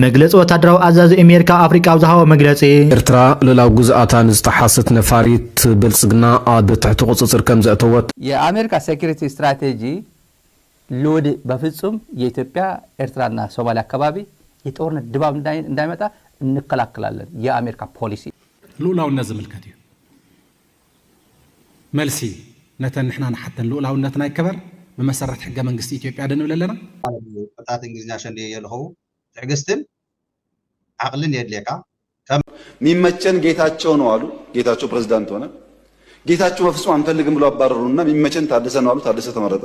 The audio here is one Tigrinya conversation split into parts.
መግለጺ ወታደራዊ ኣዛዚ እሜሪካ ኣፍሪቃ ኣብ ዝሃቦ መግለጺ፣ ኤርትራ ልኡላዊ ግዝኣታ ንዝጠሓሰት ነፋሪት ብልጽግና ኣብ ትሕቲ ቁጽጽር ከምዘእተወት፣ የኣሜሪካ ሴኩሪቲ ስትራቴጂ ሎዲ በፍጹም የኢትዮጵያ ኤርትራ እና ሶማሊያ ኣካባቢ የጦርነት ድባብ እንዳይመጣ እንከላከላለን የኣሜሪካ ፖሊሲ። ልኡላውነት ዝምልከት እዩ። መልሲ፣ ነተን ንሕና ንሓተን ልኡላውነትና ይከበር ብመሰረት ሕገ መንግስቲ ኢትዮጵያ ዶ ንብል ኣለና? ማለት እዩ ቅጥዓት እንግሊዝኛ ሸንድየ የልኸዉ ትዕግስትን ዓቅልን የድልየካ ከም። ሚመቸን ጌታቸው ነው አሉ ጌታቸው ፕሬዝዳንት ሆነ ጌታቸው በፍፁም አንፈልግም ብሎ አባረሩንና ሚመቸን ታደሰ ነው አሉ ታደሰ ተመረጠ።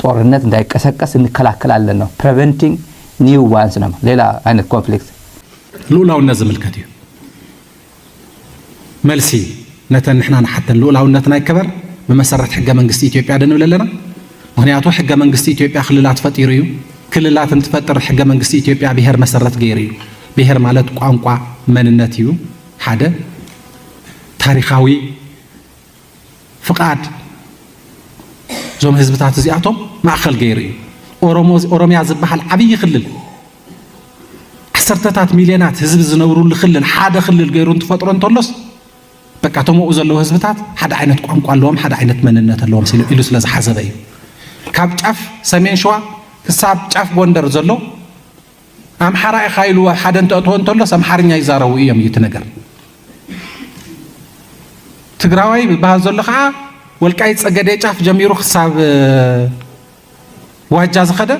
ጦርነት እንዳይቀሰቀስ እንከላከል ኣለና፣ Preventing New Ones፣ ናብ ሌላ ዓይነት ኮንፍሊክት። ልኡላውነት ዝምልከት እዩ። መልሲ፣ ነተን ንሕና ንሓተን ልኡላውነትና ይከበር ብመሰረት ሕገ መንግስቲ ኢትዮጵያ ዶ ንብል ኣለና? ምኽንያቱ ሕገ መንግስቲ ኢትዮጵያ ክልላት ፈጢሩ እዩ። ክልላት እንትፈጥር ሕገ መንግስቲ ኢትዮጵያ ብሄር መሰረት ገይሩ እዩ። ብሄር ማለት ቋንቋ፣ መንነት እዩ ሓደ ታሪኻዊ ፍቓድ እዞም ህዝብታት እዚኣቶም ማእኸል ገይሩ እዩ። ኦሮሞ ኦሮሚያ ዝበሃል ዓብዪ ክልል ዓሰርተታት ሚልዮናት ህዝቢ ዝነብሩሉ ክልል ሓደ ክልል ገይሩ እንትፈጥሮ እንተሎስ በቃ እቶም ኣብኡ ዘለዉ ህዝብታት ሓደ ዓይነት ቋንቋ ኣለዎም፣ ሓደ ዓይነት መንነት ኣለዎም ኢሉ ስለ ዝሓሰበ እዩ። ካብ ጫፍ ሰሜን ሸዋ ክሳብ ጫፍ ጎንደር ዘሎ ኣምሓራ ኢኻ ኢሉ ኣብ ሓደ እንተእትዎ እንተሎስ ኣምሓርኛ ይዛረቡ እዮም እዩ እቲ ነገር። ትግራዋይ ዝበሃል ዘሎ ከዓ ወልቃይት ፀገዴ ጫፍ ጀሚሩ ክሳብ ዋጃ ዝኸደ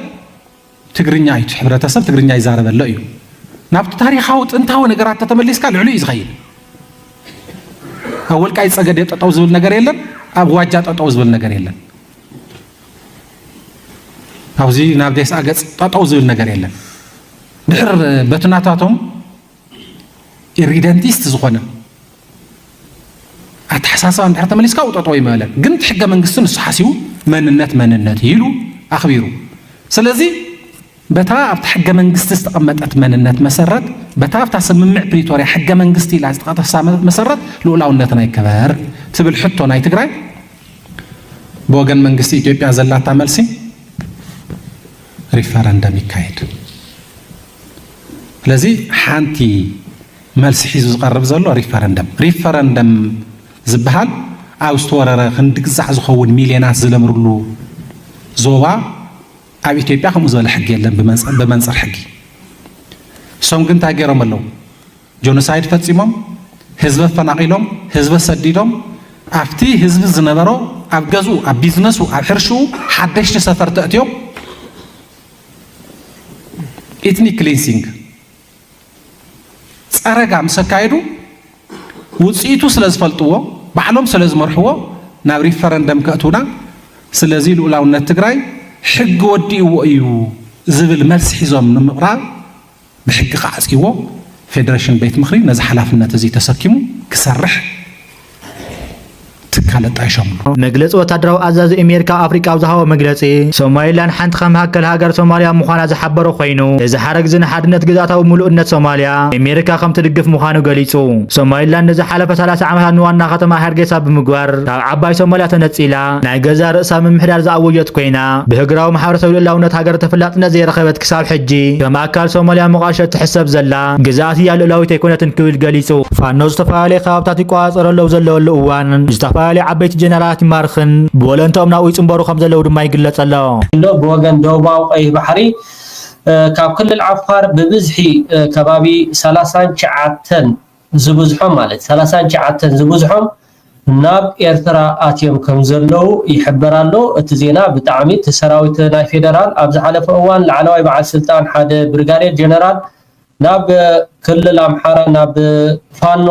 ትግርኛ እዩ ሕብረተሰብ ትግርኛ ይዛረበሎ እዩ። ናብቲ ታሪኻዊ ጥንታዊ ነገራት ተተመሊስካ ልዕሉ እዩ ዝኸይድ። ኣብ ወልቃይት ፀገዴ ጠጠው ዝብል ነገር የለን፣ ኣብ ዋጃ ጠጠው ዝብል ነገር የለን። ኣብዚ ናብ ዴስኣ ገጽ ጠጠው ዝብል ነገር የለን ድሕር በቲ ናታቶም ኢሪደንቲስት ዝኾነ ኣተሓሳስባ እንድሕር ተመሊስካ ው ጠጠው ይመለን ግን እቲ ሕገ መንግስቲ ንሱ ሓሲቡ መንነት መንነት ኢሉ ኣኽቢሩ ስለዚ በታ ኣብቲ ሕገ መንግስቲ ዝተቐመጠት መንነት መሰረት፣ በታ ኣብታ ስምምዕ ፕሪቶርያ ሕገ መንግስቲ ኢላ ዝተጠቕሳ መሰረት ልኡላውነትና ይከበር ትብል ሕቶ ናይ ትግራይ ብወገን መንግስቲ ኢትዮጵያ ዘላታ መልሲ ሪፈረንደም ይካየድ። ስለዚ ሓንቲ መልሲ ሒዙ ዝቐርብ ዘሎ ሪፈረንደም ሪፈረንደም ዝበሃል ኣብ ዝተወረረ ክንዲ ግዛዕ ዝኸውን ሚልዮናት ዝለምርሉ ዞባ ኣብ ኢትዮጵያ ከምኡ ዝበለ ሕጊ የለን ብመንፅር ሕጊ እሶም ግን እንታይ ገይሮም ኣለዉ ጆኖሳይድ ፈፂሞም ህዝቢ ኣፈናቒሎም ህዝቢ ኣሰዲዶም ኣብቲ ህዝቢ ዝነበሮ ኣብ ገዝኡ ኣብ ቢዝነሱ ኣብ ሕርሽኡ ሓደሽቲ ሰፈር ተእትዮም ኢትኒክ ክሊንሲንግ ጸረጋ ምስ ኣካየዱ ውጽኢቱ ስለ ዝፈልጥዎ ባዕሎም ስለ ዝመርሕዎ ናብ ሪፈረንደም ከእትውና ስለዚ ልኡላውነት ትግራይ ሕጊ ወዲእዎ እዩ ዝብል መልሲ ሒዞም ንምቕራብ ብሕጊ ክዓጽይዎ ፌደሬሽን ቤት ምኽሪ ነዚ ሓላፍነት እዚ ተሰኪሙ ክሰርሕ ትካል ኣጣይሾምሉ። መግለጺ ወታደራዊ ኣዛዚ ኣሜሪካ ኣብ ኣፍሪቃ ኣብ ዝሃቦ መግለጺ፣ ሶማሊላንድ ሓንቲ ካብ መሃከል ሃገር ሶማሊያ ምዃና ዝሓበረ ኮይኑ፣ እዚ ሓረግ'ዚ ንሓድነት ግዝኣታዊ ምሉእነት ሶማሊያ፣ ኣሜሪካ ከም ትድግፍ ምዃኑ ገሊጹ። ሶማሊላንድ ንዝሓለፈ ሰላሳ ዓመታት ንዋና ከተማኣ ሃርጌሳ ብምግባር ካብ ዓባይ ሶማሊያ ተነጺላ፣ ናይ ገዛእ ርእሳ ምምሕዳር ዝኣወጀት ኮይና፣ ብህግራዊ ማሕበረሰብ ልኡላውነት ሃገር ተፈላጥነት ዘይረኸበት ክሳብ ሕጂ ከም ኣካል ሶማሊያ ሞቓድሾ እትሕሰብ ዘላ። ግዝኣት እያ ልኡላዊት ኣይኮነትን ክብል ገሊጹ። ፋኖ ዝተፈላለየ ከባብታት ይቆጻጸሮ ኣለዉ ዘለወሉ እዋን፣ ዝተፈላለየ ዓበይቲ ጀነራላት ይማርኽን ብወለንትኦም ናብኡ ይጽንበሩ ከምዘለዉ ድማ ይግለጽ ኣሎ። ፋኖ ብወገን ደቡባዊ ቀይሕ ባሕሪ ካብ ክልል ዓፋር ብብዝሒ ከባቢ ሰላሳን ትሽዓተን ዝብዝሖም ማለት ሰላሳን ትሽዓተን ዝብዝሖም ናብ ኤርትራ ኣትዮም ከምዘለዉ ይሕበር ኣሎ እቲ ዜና ብጣዕሚ እቲ ሰራዊት ናይ ፌደራል ኣብ ዝሓለፈ እዋን ላዕለዋይ በዓል ስልጣን ሓደ ብርጋዴር ጀነራል ናብ ክልል ኣምሓራ ናብ ፋኖ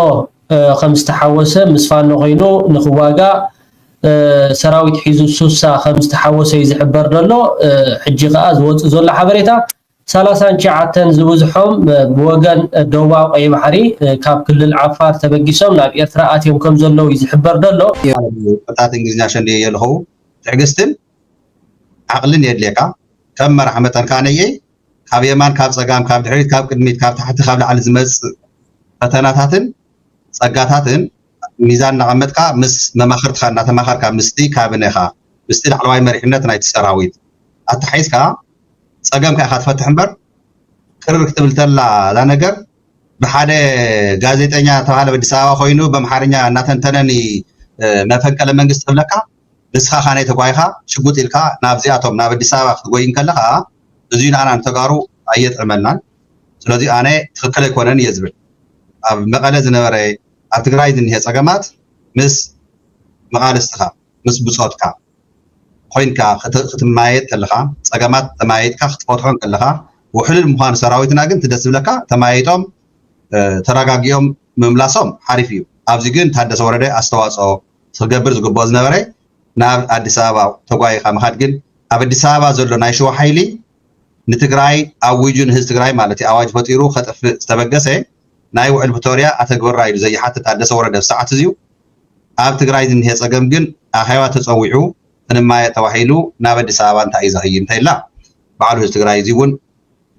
ከምዝተሓወሰ ምስ ፋኖ ኮይኑ ንክዋጋእ ሰራዊት ሒዙ ሱሳ ከምዝተሓወሰ እዩ ዝሕበር ዘሎ ሕጂ ከኣ ዝወጽእ ዘሎ ሓበሬታ ሰላሳን ትሽዓተን ዝብዝሖም ብወገን ደቡባዊ ቀይሕ ባሕሪ ካብ ክልል ዓፋር ተበጊሶም ናብ ኤርትራ ኣትዮም ከምዘለዉ እዩ ዝሕበር ዘሎ። ቃላት እንግሊዝኛ ሸንድየ የልኸዉ ትዕግስትን ዓቕልን የድልየካ ከም መራሕ መጠን ከኣ ነየይ ካብ የማን ካብ ጸጋም ካብ ድሕሪት ካብ ቅድሚት ካብ ታሕቲ ካብ ላዕሊ ዝመጽእ ፈተናታትን ጸጋታትን ሚዛን እናቐመጥካ ምስ መማኽርትኻ እናተማኸርካ ምስቲ ካብኔኻ ምስቲ ላዕለዋይ መሪሕነት ናይቲ ሰራዊት ኣተሓሒዝካ ፀገምካ ኢኻ ትፈትሕ እምበር ቅርር ክትብል ተላ እዛ ነገር ብሓደ ጋዜጠኛ ተባሃለ ኣዲስ ኣበባ ኮይኑ በምሓርኛ እናተንተነኒ መፈንቀለ መንግስቲ ክብለካ ንስኻ ካነይ ተጓይኻ ሽጉጥ ኢልካ ናብዚኣቶም ናብ ኣዲስ ኣበባ ክትጎይ እንከለኻ እዙይ ንኣና ንተጋሩ ኣየጥዕመልናን ስለዚ ኣነ ትክክል ኣይኮነን እየ ዝብል ኣብ መቐለ ዝነበረ ኣብ ትግራይ ዝኒሀ ፀገማት ምስ መቓልስትኻ፣ ምስ ብፆትካ፣ ኾይንካ ክትማየጥ ከለኻ ፀገማት ተማያይጥካ ክትፈትሖ እንከለኻ ውሕሉል ምዃኑ ሰራዊትና ግን እቲ ደስ ዝብለካ ተማያይጦም ተረጋጊኦም ምምላሶም ሓሪፍ እዩ። ኣብዚ ግን ታደሰ ወረደ ኣስተዋፅኦ ክገብር ዝግብኦ ዝነበረ ናብ ኣዲስ ኣበባ ተጓይኻ ምኻድ ግን ኣብ ኣዲስ ኣበባ ዘሎ ናይ ሽዋ ሓይሊ ንትግራይ ኣዊጁ ንህዝቢ ትግራይ ማለት እዩ ኣዋጅ ፈጢሩ ከጥፍእ ዝተበገሰ ናይ ውዕል ፕቶርያ ኣተግብራ ኢሉ ዘይሓቲ ታደሰ ወረደ ኣብ ሰዓት እዚኡ ኣብ ትግራይ ዝኒሀ ፀገም ግን ኣኼባ ተፀዊዑ ክንማየ ተባሂሉ ናብ ኣዲስ ኣበባ እንታይ እዩ ዘኽይድ እንታይ እላ ባዕሉ ህዝቢ ትግራይ እዚ እውን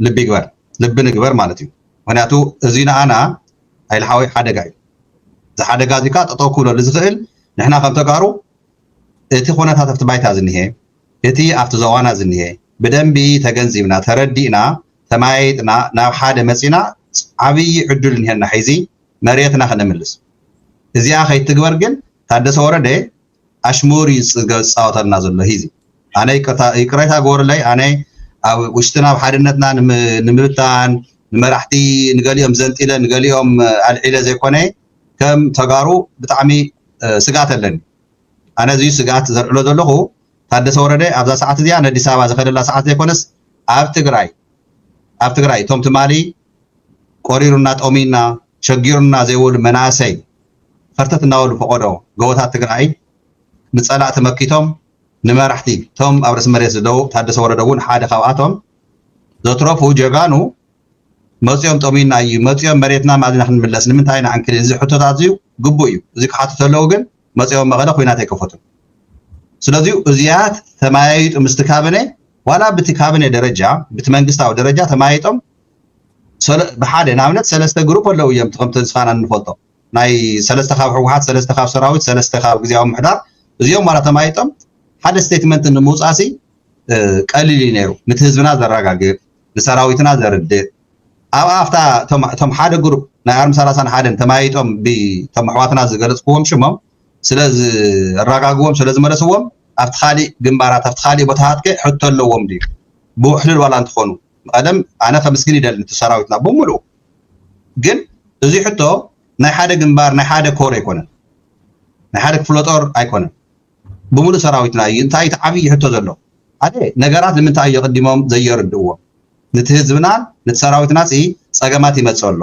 ልቢ ይግበር ልቢ ንግበር ማለት እዩ ምክንያቱ እዚ ንኣና ኣይልሓወይ ሓደጋ እዩ እዚ ሓደጋ እዚ ከዓ ጠጠው ክብለሉ ዝኽእል ንሕና ከም ተጋሩ እቲ ኩነታት ኣብቲ ባይታ ዝኒሀ እቲ ኣብቲ ዞባና ዝኒሀ ብደንቢ ተገንዚብና ተረዲእና ተመያይጥና ናብ ሓደ መፂና ዓብዪ ዕዱል እኒሀና ሒዚ መሬትና ክነምልስ እዚኣ ከይትግበር ግን ታደሰ ወረደ ኣሽሙር እዩ ዝፃወተልና ዘሎ ሂዚ ኣነ ይቅርታ ይቅሬታ ግበሩለይ ኣነ ኣብ ውሽጥና ኣብ ሓድነትና ንምብታን ንመራሕቲ ንገሊኦም ዘንጢለ ንገሊኦም ኣልዒለ ዘይኮነ ከም ተጋሩ ብጣዕሚ ስግኣት ኣለኒ ኣነ እዚ እዩ ስግኣት ዘልዕሎ ዘለኹ፣ ታደሰ ወረደ ኣብዛ ሰዓት እዚኣ ነዲስ ኣበባ ዝኸደላ ሰዓት ዘይኮነስ ኣብ ትግራይ ኣብ ትግራይ እቶም ትማሊ ቆሪሩና ጠምዩና ሸጊሩና ዘይበሉ መናእሰይ ኸርተት እናበሉ ፈቆዶ ጎቦታት ትግራይ ንፀላእቲ መኪቶም ንመራሕቲ እቶም ኣብ ርእሲ መሬት ዝደው ታደሰ ወረደ እውን ሓደ ካብኣቶም ዘትረፉ ጀጋኑ መጺኦም ጠምዩና ኢዩ መጺኦም መሬትና ማልና ክንምለስ ንምንታይ ኢና ዕንክሊል እዚ ሕቶታት እዚዩ ግቡእ ኢዩ እዚ ክሓቱ ተለው ግን መጺኦም መቐለ ኩናት ኣይከፈቱን ስለዚዩ እዚያት ተመያይጡ ምስቲ ካቢነ ዋላ ብቲ ካቢነ ደረጃ ብቲ መንግስታዊ ደረጃ ተመያይጦም ብሓደ ንኣብነት ሰለስተ ግሩፕ ኣለው እዮም ከም ተስፋና እንፈልጦ ናይ ሰለስተ ካብ ህወሓት ሰለስተ ካብ ሰራዊት ሰለስተ ካብ ግዜያዊ ምሕዳር እዚኦም ዋላ ተማይጦም ሓደ ስቴትመንት ንምውፃእሲ ቀሊል እዩ ነይሩ ንቲ ህዝብና ዘረጋግእ ንሰራዊትና ዘርድእ ኣብ ኣፍታ እቶም ሓደ ግሩፕ ናይ ኣርሚ ሰላሳን ሓደን ተመያይጦም ብቶም ኣሕዋትና ዝገለፅክዎም ሽሞም ስለ ዝራጋግዎም ስለ ዝመለስዎም ኣብቲ ካሊእ ግንባራት ኣብቲ ካሊእ ቦታታት ከ ሕቶ ኣለዎም ድዩ ብውሕልል ዋላ እንትኾኑ ቀደም ኣነ ከምስግን ይደሊ እቲ ሰራዊትና ብምልኡ ግን እዚ ሕቶ ናይ ሓደ ግንባር ናይ ሓደ ኮር ኣይኮነን ናይ ሓደ ክፍለ ጦር ኣይኮነን ብምሉእ ሰራዊትና እዩ እንታይ እቲ ዓብዪ ሕቶ ዘሎ ሓደ ነገራት ንምንታይ የቕዲሞም ዘየርድእዎም ንቲ ህዝብናን ንቲ ሰራዊትናሲ ፀገማት ይመፅእ ኣሎ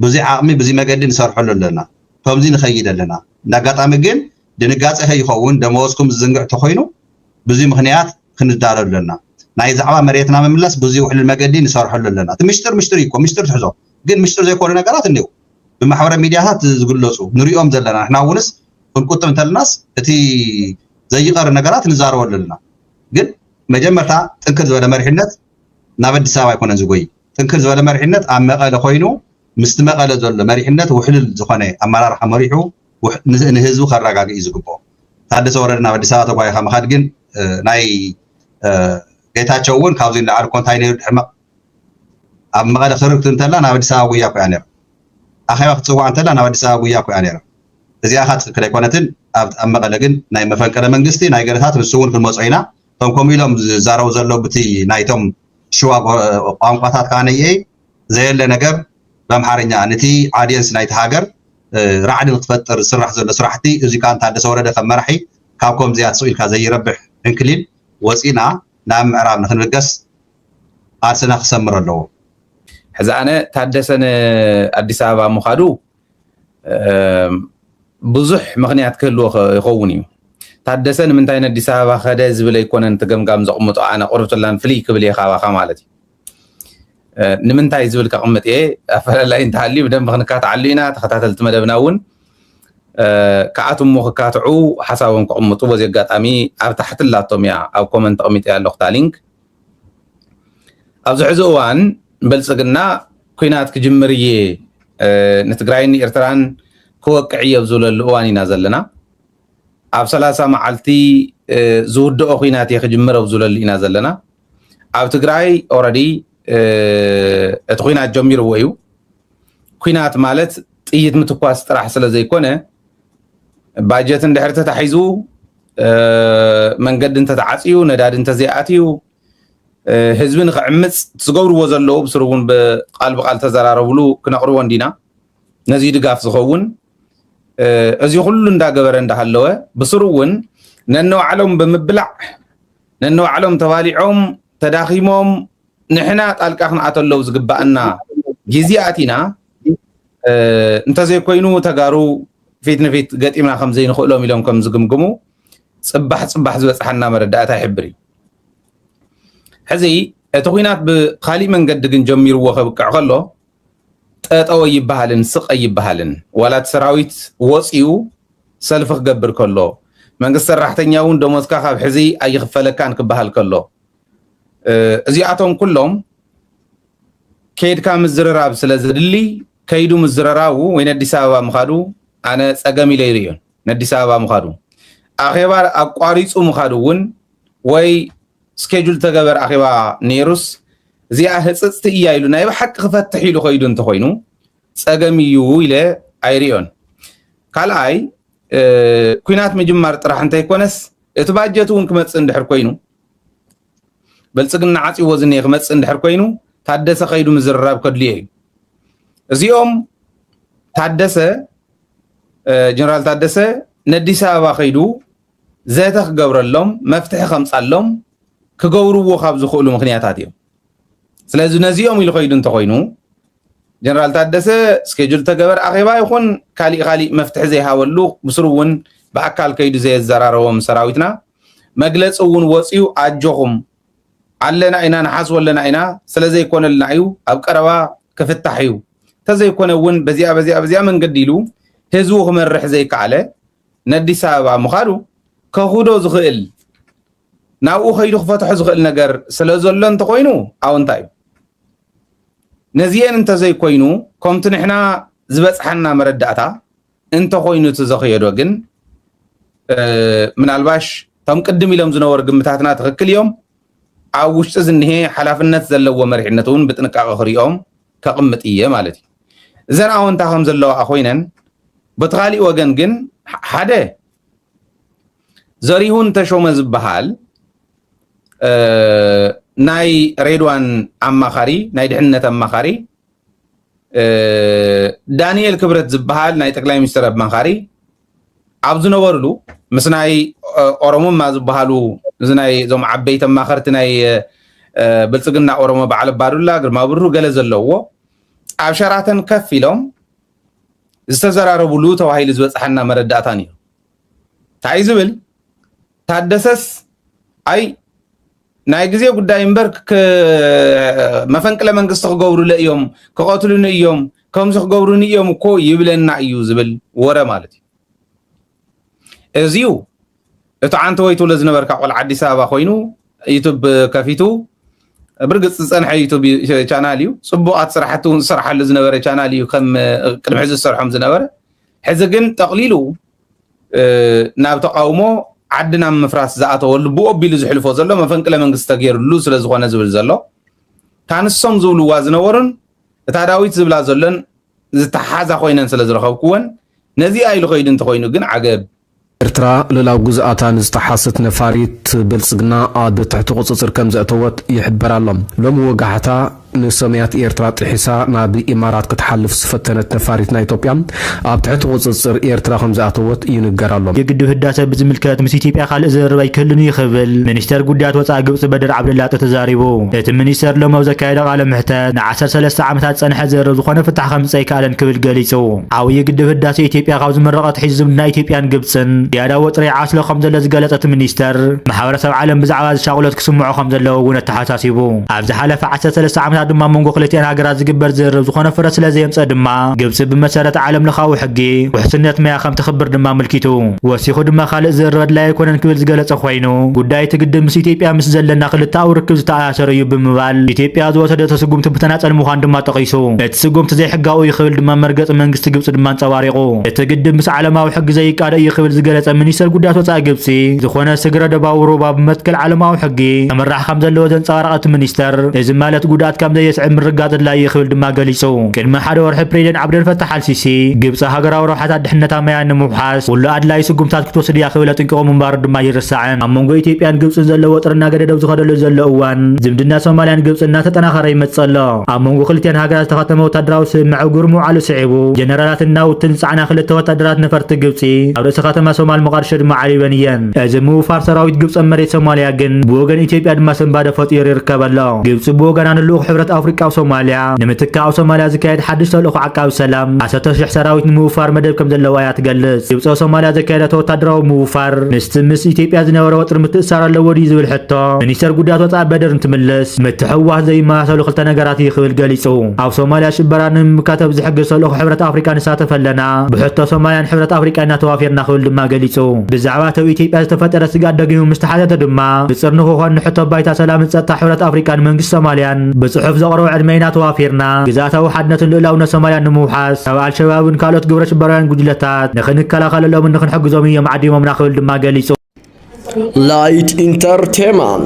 ብዙይ ዓቕሚ ብዙይ መገዲ ንሰርሐሉ ኣለና ከምዙይ ንኸይድ ኣለና እንዳጋጣሚ ግን ድንጋፀ ከይኸውን ደመወዝኩም ዝዝንግዕ ተኾይኑ ብዙይ ምኽንያት ክንዳለሉ ኣለና ናይ ዛዕባ መሬትና ምምለስ ብዙይ ውሕልል መገዲ ንሰርሐሉ ኣለና እቲ ምሽጥር ምሽጥር እዩ እኮ ምሽጥር ትሕዞ ግን ምሽጥር ዘይኮኑ ነገራት እኒው ብማሕበረ ሚዲያታት ዝግለፁ ንሪኦም ዘለና ንሕና እውንስ ክንቁጥብ እንተልናስ እቲ ዘይቀሪ ነገራት ንዛረበሉ ኣለና ግን መጀመርታ ጥንክር ዝበለ መሪሕነት ናብ ኣዲስ ኣበባ ኣይኮነን ዝጎይ ጥንክር ዝበለ መሪሕነት ኣብ መቐለ ኮይኑ ምስቲ መቐለ ዘሎ መሪሕነት ውሕልል ዝኾነ ኣመራርሓ መሪሑ ንህዝቡ ከረጋግእ እዩ ዝግብኦ ታደሰ ወረደ ናብ ኣዲስ ኣበባ ተጓይኻ ምኻድ ግን ናይ ጌታቸው እውን ካብዚ ንላዕሊ እኮ እንታይ ነይሩ ድሕሪ ኣብ መቐለ ክርክት እንተላ ናብ ኣዲስ ኣበባ ጉያ ኮይያ ነይራ ኣኼባ ክትፅዋዕ እንተላ ናብ ኣዲስ ኣበባ ጉያ ኮይያ ነይራ እዚኣ ከኣ ትክክል ኣይኮነትን ኣብ ኣብ መቀለ ግን ናይ መፈንቀለ መንግስቲ ናይ ገለታት ንሱ እውን ክንመጾ ኢና እቶም ከምኡ ኢሎም ዝዛረቡ ዘለዉ ብቲ ናይቶም ሽዋ ቋንቋታት ከኣ ነይ ዘየለ ነገር በምሓርኛ ነቲ ዓድየንስ ናይቲ ሃገር ራዕዲ ንክትፈጥር ዝስራሕ ዘሎ ስራሕቲ እዚ ከኣ ታደሰ ወረደ ከም መራሒ ካብ ከምዚኣ ትስቕ ኢልካ ዘይረብሕ ዕንክሊል ወጺእና ናብ ምዕራብ ንክንብገስ ቃልስና ክሰምር ኣለዎ ሕዚ ኣነ ታደሰ ንኣዲስ ኣበባ ምኻዱ ብዙሕ ምክንያት ክህልዎ ይኸውን እዩ ታደሰ ንምንታይ ነዲስ ኣበባ ከደ ዝብል ኣይኮነን እቲ ገምጋም ዘቕምጦ ኣነ ቁርብትላን ፍልይ ክብል እየ ካባኻ ማለት እዩ ንምንታይ ዝብል ከቕምጥ እየ ኣፈላላይ እንተሃልዩ ብደንብ ክንካትዓሉ ኢና ተኸታተልቲ መደብና እውን ክኣትሞ ክካትዑ ሓሳቦም ክቕምጡ በዚ ኣጋጣሚ ኣብ ታሕቲ ላቶም እያ ኣብ ኮመንት ተቕሚጠ ኣለኹ እታ ሊንክ ኣብዚ ሕዚ እዋን ብልፅግና ኩናት ክጅምር እየ ንትግራይን ንኤርትራን ክወቅዕ እየ ኣብ ዝብለሉ እዋን ኢና ዘለና ኣብ ሰላሳ መዓልቲ ዝውድኦ ኩናት እየ ክጅምር ኣብ ዝብለሉ ኢና ዘለና ኣብ ትግራይ ኦረዲ እቲ ኩናት ጀሚርዎ እዩ ኩናት ማለት ጥይት ምትኳስ ጥራሕ ስለ ዘይኮነ ባጀት እንድሕር ተታሒዙ መንገዲ እንተተዓፅዩ ነዳዲ እንተዘይኣትዩ ህዝቢ ንክዕምፅ ዝገብርዎ ዘለዉ ብስሩ እውን ብቃል ብቃል ተዘራረብሉ ክነቅርቦ እንዲና ነዚ ድጋፍ ዝኸውን እዚ ኩሉ እንዳገበረ እንዳሃለወ ብስሩ እውን ነንባዕሎም ብምብላዕ ነንባዕሎም ተባሊዖም ተዳኺሞም ንሕና ጣልቃ ክንኣተለው ዝግባኣና ግዜ ኣቲና እንተዘይኮይኑ ተጋሩ ፊት ንፊት ገጢምና ከምዘይንኽእሎም ኢሎም ከም ዝግምግሙ ፅባሕ ፅባሕ ዝበፅሓና መረዳእታ ይሕብር እዩ ሕዚ እቲ ኩናት ብካሊእ መንገዲ ግን ጀሚርዎ ከብቅዕ ከሎ ጠጠወ ይበሃልን ስቀ ይበሃልን ዋላ እቲ ሰራዊት ወፂኡ ሰልፊ ክገብር ከሎ መንግስቲ ሰራሕተኛ እውን ደሞዝካ ካብ ሕዚ ኣይኽፈለካን ክበሃል ከሎ እዚኣቶም ኩሎም ከይድካ ምዝርራብ ስለ ዘድሊ ከይዱ ምዝረራቡ ወይ ነዲስ ኣበባ ምኻዱ ኣነ ፀገም ኢለ ይርእዮን ነዲስ ኣበባ ምኻዱ ኣኼባ ኣቋሪፁ ምኻዱ እውን ወይ ስኬጁል ተገበር ኣኼባ ነይሩስ እዚኣ ህፅፅቲ እያ ኢሉ ናይ ብሓቂ ክፈትሕ ኢሉ ከይዱ እንተኮይኑ ፀገም እዩ ኢለ ኣይርዮን ካልኣይ ኩናት ምጅማር ጥራሕ እንተይኮነስ እቲ ባጀት እውን ክመፅእ እንድሕር ኮይኑ በልፅግና ዓፅዎ ዝኒሀ ክመፅእ እንድሕር ኮይኑ ታደሰ ከይዱ ምዝርራብ ከድልዮ እዩ እዚኦም ታደሰ ጀነራል ታደሰ ነዲስ ኣበባ ከይዱ ዘተ ክገብረሎም መፍትሒ ከምፃሎም ክገብርዎ ካብ ዝኽእሉ ምክንያታት እዮም ስለዚ ነዚኦም ኢሉ ከይዱ እንተኮይኑ ጀነራል ታደሰ ስኬጁል ተገበር ኣኼባ ይኹን ካሊእ ካሊእ መፍትሒ ዘይሃበሉ ብስሩ እውን ብኣካል ከይዱ ዘየዘራረቦም ሰራዊትና መግለፂ እውን ወፅዩ ኣጆኹም ኣለና ኢና ንሓስቦ ኣለና ኢና ስለዘይኮነልና እዩ ኣብ ቀረባ ክፍታሕ እዩ ተዘይኮነ እውን በዚኣ በዚኣ በዚኣ መንገዲ ኢሉ ህዝቡ ክመርሕ ዘይከኣለ ነዲስ ኣበባ ምኻዱ ከኹዶ ዝኽእል ናብኡ ከይዱ ክፈትሖ ዝኽእል ነገር ስለ ዘሎ እንተኮይኑ ኣውንታ እዩ ነዚኤን እንተዘይኮይኑ ከምቲ ንሕና ዝበፅሓና መረዳእታ እንተኾይኑ እቲ ዘኽየዶ ግን ምናልባሽ እቶም ቅድም ኢሎም ዝነበሩ ግምታትና ትኽክል እዮም ኣብ ውሽጢ ዝኒሀ ሓላፍነት ዘለዎ መሪሕነት እውን ብጥንቃቐ ክሪኦም ከቕምጥ እየ ማለት እዩ እዘን ኣወንታ ከም ዘለዋ ኮይነን በቲ ካሊእ ወገን ግን ሓደ ዘሪሁን ተሾመ ዝበሃል ናይ ሬድዋን ኣማኻሪ ናይ ድሕንነት ኣማኻሪ ዳንኤል ክብረት ዝበሃል ናይ ጠቅላይ ሚኒስትር ኣማኻሪ ኣብ ዝነበርሉ ምስ ናይ ኦሮሞማ ዝበሃሉ እዚ ናይ እዞም ዓበይቲ ኣማኸርቲ ናይ ብልፅግና ኦሮሞ በዓል ኣባዱላ ግርማ ብሩ ገለ ዘለዎ ኣብ ሸራተን ከፍ ኢሎም ዝተዘራረብሉ ተባሂሉ ዝበፅሓና መረዳእታ ነይሩ እንታይ ዝብል ታደሰስ ኣይ ናይ ግዜ ጉዳይ እምበር መፈንቅለ መንግስቲ ክገብሩለ እዮም ክቐትሉኒ እዮም ከምዚ ክገብሩኒ እዮም እኮ ይብለና እዩ ዝብል ወረ ማለት እዩ እዚዩ እቲ ዓንተ ወይ ትብሎ ዝነበርካ ቆልዓ ኣዲስ ኣበባ ኮይኑ ዩቱብ ከፊቱ ብርግፅ ዝፀንሐ ዩቱብ ቻናል እዩ ፅቡቃት ስራሕቲ እውን ዝስራሓሉ ዝነበረ ቻናል እዩ ከም ቅድሚ ሕዚ ዝሰርሖም ዝነበረ ሕዚ ግን ጠቕሊሉ ናብ ተቃውሞ ዓዲ ናብ ምፍራስ ዝኣተወሉ ብኡ ኣቢሉ ዝሕልፎ ዘሎ መፈንቅለ መንግስቲ ተገይርሉ ስለ ዝኾነ ዝብል ዘሎ እታ ንሶም ዝብልዋ ዝነበሩን እታ ዳዊት ዝብላ ዘሎን ዝተሓሓዛ ኮይነን ስለ ዝረኸብኩወን ነዚኣ ኢሉ ከይዱ እንተኾይኑ ግን ዓገብ ኤርትራ ልኡላዊ ግዝኣታ ንዝጠሓሰት ነፋሪት ብልጽግና ኣብ ትሕቲ ቁጽጽር ከምዘእተወት ይሕበር ኣሎ። ሎሚ ወጋሕታ፣ ንሰማያት ኤርትራ ጥሒሳ ናብ ኢማራት ክትሓልፍ ዝፈተነት ነፋሪት ናይ ኢትዮጵያ ኣብ ትሕቲ ቁጽጽር ኤርትራ ከምዝኣተወት ይንገር ኣሎ። የግድብ ህዳሰ ብዝምልከት ምስ ኢትዮጵያ ካልእ ዝርርብ ኣይክህልን'ዩ ክብል ሚኒስተር ጉዳያት ወጻኢ ግብጺ በድር ዓብደላጢ ተዛሪቡ። እቲ ሚኒስተር ሎሚ ኣብ ዘካየዶ ቃለ መሕተት ንዓሰርተ ሰለስተ ዓመታት ዝጸንሐ ዝርርብ ዝኾነ ፍታሕ ከምጽእ ኣይከኣለን ክብል ገሊጹ። ዓብዪ ግድብ ህዳሰ ኢትዮጵያ ካብ ዝምረቕ ኣትሒዙ ዝምድና ኢትዮጵያን ግብጽን ዝያዳ ወጥሪ ይዓስሎ ከምዘሎ ዝገለጸ እቲ ሚኒስተር፣ ማሕበረሰብ ዓለም ብዛዕባ'ዚ ሻቕሎት ክስምዑ ከምዘለዎ'ውን ኣተሓሳሲቡ። ኣተሓሳሲቡ። ኣብ ዝሓለፈ ዓሰርተ ሰለስተ ዓመታት ድማ ኣብ መንጎ ክልቲኣን ሃገራት ዝግበር ዝርርብ ዝኾነ ፍረ ስለዘየምፀ ድማ ግብፂ ብመሰረት ዓለም ለኻዊ ሕጊ ውሕስነት ማያ ከምተኽብር ድማ ኣመልኪቱ። ወሲኹ ድማ ካሊእ ዝርርብ ኣድላይ ኣይኮነን ክብል ዝገለፀ ኮይኑ ጉዳይ እቲ ግድብ ምስ ኢትዮጵያ ምስ ዘለና ክልተኣዊ ርክብ ዝተኣሳሰረ እዩ ብምባል ኢትዮጵያ ዝወሰደቶ ስጉምቲ ብተናፀል ምዃኑ ድማ ጠቒሱ። እቲ ስጉምቲ ዘይሕጋዊ እዩ ክብል ድማ መርገፂ መንግስቲ ግብፂ ድማ ኣንፀባሪቑ። እቲ ግድብ ምስ ዓለማዊ ሕጊ ዘይቃዶ እዩ ክብል ዝገለፀ ሚኒስተር ጉዳያት ወፃኢ ግብፂ ዝኾነ ስግረ ዶባዊ ሩባ ብመትከል ዓለማዊ ሕጊ ሕጊ ከምራሕ ከምዘለዎ ዘንጸባረቐ እቲ ሚኒስተር፣ እዚ ማለት ጉድኣት ከምዘየስዕብ ምርግጋጽ ኣድላዪ እዩ ክብል ድማ ገሊጹ። ቅድሚ ሓደ ወርሒ ፕሬዚደንት ዓብደልፈታሕ ኣልሲሲ፣ ግብጺ ሃገራዊ ረብሓታት ድሕነታ ማያ ንምውሓስ ኩሉ ኣድላዪ ስጉምትታት ክትወስድ እያ ክብል ኣጠንቂቑ ምንባሩ ድማ ኣይርሳዕን። ኣብ መንጎ ኢትዮጵያን ግብጽን ዘሎ ወጥሪ እናገደደው ዝኸደሉ ዘሎ እዋን፣ ዝምድና ሶማልያን ግብጽን እናተጠናኸረ ይመጽእ ኣሎ። ኣብ መንጎ ክልቲኣን ሃገራት ዝተኸተመ ወታደራዊ ስምምዕ ኣብ ግብሪ ምውዓሉ ስዒቡ፣ ጀነራላትን ናውትን ዝጸዓና ክልተ ወታደራት ነፈርቲ ግብጺ ኣብ ርእሰ ከተማ ሶማል ሞቓድሾ ድማ ዓሪበን እየን። እዚ ምውፋር ሰራዊት ግብፂ ኣብ መሬት ሶማሊያ ግን ብወገን ኢትዮጵያ ድማ ስንባደ ፈጢሩ ይርከብ ኣሎ። ግብፂ ብወገና ንልኡኽ ሕብረት ኣፍሪቃ ኣብ ሶማሊያ ንምትካእ ኣብ ሶማሊያ ዝካየድ ሓድሽ ተልእኾ ዓቃቢ ሰላም ዓሰርተ ሽሕ ሰራዊት ንምውፋር መደብ ከምዘለዋ እያ ትገልፅ። ግብፂ ኣብ ሶማሊያ ዘካየደቶ ወታደራዊ ምውፋር ምስቲ ምስ ኢትዮጵያ ዝነበረ ወጥሪ ምትእስሳር ኣለዎ ድዩ ዝብል ሕቶ ሚኒስተር ጉዳያት ወፃኢ በድር እንትምልስ ምትሕውዋስ ዘይመሳሰሉ ክልተ ነገራት እዩ ክብል ገሊፁ። ኣብ ሶማሊያ ሽበራ ንምምካት ኣብ ዝሕግዝ ተልእኾ ሕብረት ኣፍሪቃ ንሳተፍ ኣለና፣ ብሕቶ ሶማሊያን ሕብረት ኣፍሪቃን ኢና ተዋፊርና ክብል ድማ ገሊፁ። ብዛዕባ እቲ ኣብ ኢትዮጵያ ዝተፈጠረ ስግኣት ደጊሙ ምስ ተሓተተ ድማ፣ ንጽር ንክኾን ንሕቶ ባይታ ሰላምን ጸጥታ ሕብረት ኣፍሪቃን መንግስቲ ሶማልያን ብጽሑፍ ዘቕረቦ ዕድመ ኢና ተዋፊርና ግዝኣታዊ ሓድነትን ልኡላውነት ሶማልያን ንምውሓስ ካብ ኣልሸባብን ካልኦት ግብረሽበራውያን ጉጅለታት ንክንከላኸለሎምን ንክንሕግዞምን እዮም ዓዲሞምና ክብል ድማ ገሊጹ። Light Entertainment